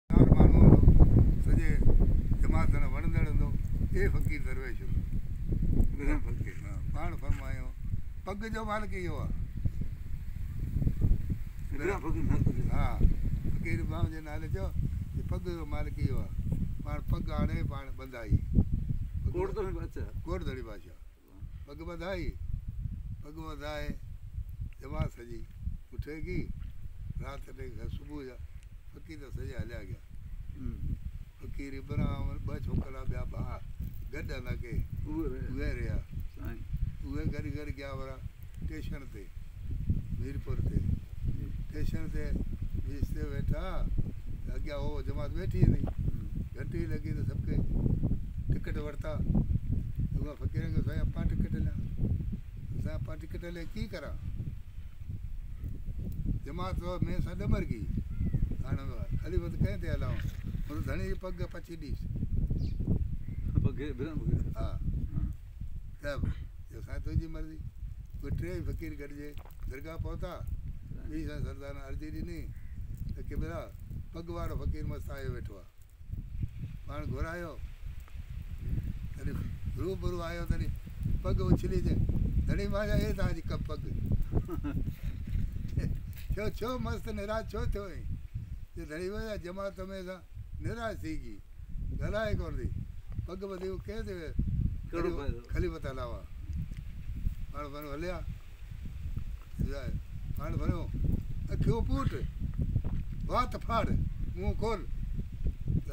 ڪار ماڻهو هوندو، سڄي جماعت سان وڻندڙ هوندو، اي فقير درويش هوندو. پاڻ فرمايو، پڳ جو مالڪ اهو آ. ها، فقير ابراهيم جي نالي چيو ته پڳ جو مالڪ اهو آ. پاڻ پڳ آڻي، پاڻ ٻڌائي. ڪوٽ ڌڻي بادشاهه. پڳ ٻڌائي، پڳ وڌائي جماعت سڄي پٺي ڪي، رات ٽي کان صبح جا فقير ته سڄا هليا گيا. فقير ابراهم ۽ ٻه ڇوڪرا ٻيا ڀاء گڏ هلندا ڪي، اهي رهيا. اهي گڏ گڏ گيا ورا ٽيشڻ تي. ميرپور تي ٽيشن تي بيھه ويٺا ته اڳيان اھو جماعت ويٺي ھئي گھنٽي لڳي ته سڀ ڪي ٽڪيٽ ورتا اھا فقيرن کي سائين اپا ٽڪيٽ ليا سائين اپا ٽڪيٽ لي ڪي ڪرا جماعت تو ۾ سا ڏمر گي ھاڻ خليفه ته ڪنهن تي ھلائون ھن ڌڻي جي پڳ پڇي ڏيس پڳ ڀرن ها ته جو سائين تنهنجي مرضي اهي ٽيئي فقير گڏجي درگاهه پهتا ٻي سان سردارن عرضي ڏني ته قبلا پڳ وارو فقير مست آيو ويٺو آ پاڻ گهرايو تڏهن روح برو آيو تڏهن پڳ اڇلي چي تڏهن ماء جا اي تاج ڪب پڳ ڇو ڇو مست نراج ڇو ٿيو اي جو ڌڻي ويا جماعت ۾ سان نيرائي سيگي، ڳالهائي ڪونه ٿي، پڳ ٻڌي هو ڪنهن تي ويو؟ خليفت علاوه پاڻ ڀريو هليا، پاڻ ڀريو اکيون پوٽ، وات ڦاڙ، منهن کول،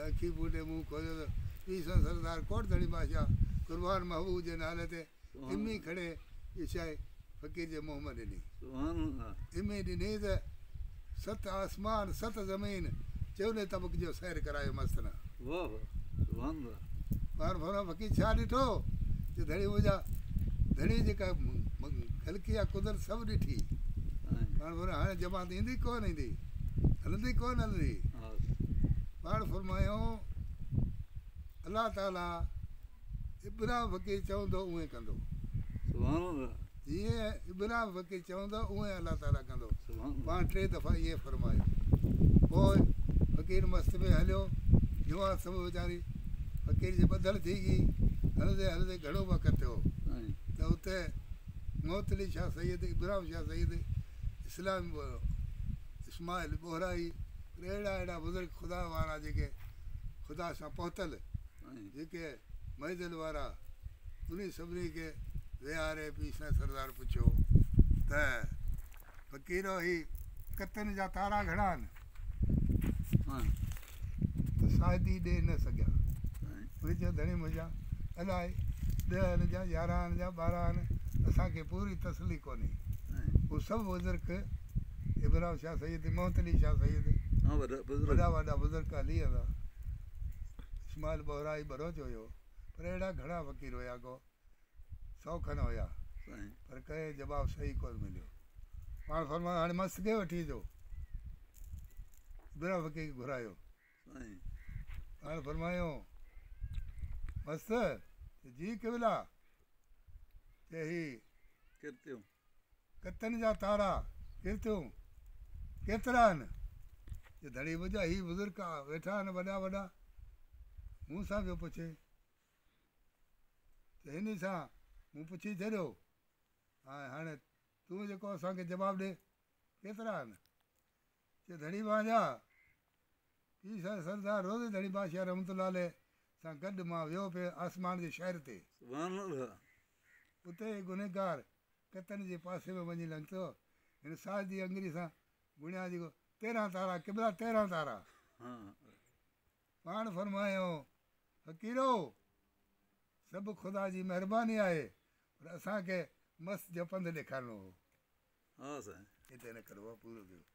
اکيون پوٽي منهن کوليو ته پيسن سردار ڪوٽ ڌڻي بادشاهه قربان محبوب جي نالي تي ام اي کڻي جو شاهي فقير جي منهن مان ڏني. ام اي ڏني ته ست آسمان ست زمين چئوني طبق جو سير ڪرايو مستن. پاڻ ڦرمان فقير ڇا ڏٺو جو ڌڻي منهنجا ڌڻي جيڪا خلقي آ قدرت سڀ ڏٺي. پاڻ ڦرمان هاڻي جماعت ايندي ڪونه ايندي هلندي ڪونه هلندي. پاڻ فرمايائون الله تعالي ابرام وڪي چوندو اونهين ڪندو. سبحان الله. جيئن ابرام وڪي چوندو اونهين الله تعالي ڪندو. سبحان الله. پاڻ ٽي دفعا ائين فرمايو. پوء فقير مست ۾ هليو. جوان سڀ ويچاري فقير جي ٻڌل ٿي ڳئي. هلندي هلندي گهڻو وقت ٿيو ته اتي معطلي شاهه سيد، ابرام شاهه سيد، اسلام اسماعيل ٻوهرائي اهڙا اهڙا بزرگ خدا وارا جيڪي خدا سان پهتل، جيڪي معزن وارا انهي سڀني کي ويهاري پيسا سردار پڇيو ته فقيرو هي ڪتن جا تارا گهڻا آهن مان ته شاهدي ڏئي نه سگهيا انهي چيو ڌڻي منهنجا الائي ڏهه آن جا يارهن آن جا ٻارهن آن اسان کي پوري تسلي ڪونهي هو سڀ بزرگ ابراهيم شاهه سيد محمد علي شاهه سيد وڏا وڏا بزرگ علي ادا اسماعيل ٻهرائي ٻروچ هيو پر اهڙا گهڻا فقير هيا ڪو سئو کن هيا پر ڪنهن جواب صحيح ڪونه مليو پاڻ فرمايو هاڻي مست کي وٺي اچو ابرا فقير کي گهرايو پاڻ فرمايو مست جي قبلا چي هي ڪرتيو ڪتن جا تارا ڪير ٿيون ڪيترا آهن جو ڌڻي منهنجا هي بزرگ ويٺا آهن وڏا وڏا مون سان پيو پڇي ته هن سان مون پڇي ڇڏيو ۽ هاڻي تون جيڪو اسانکي جواب ڏي ڪيترا آهن چي ڌڻي مانجا، پيء سائين سردار روضي ڌڻي بادشاهه رحمت الله عليه سان گڏ مان ويو پئي آسمان جي شهر تي. سبحان الله. اتي هڪ گنهگار ڪتن جي پاسي ۾ وڃي لنگهتو. هن ساجدي اڱري سان گڻيا جيڪو تيرهن تارا قبله تيرهن تارا. پاڻ فرمايائون، فقيرو! سڀ خدا جي مهرباني آهي پر اسان کي مست جهپندل ڏيکارڻو هو. هتي نه ڪربو آهي پورو ٿيو.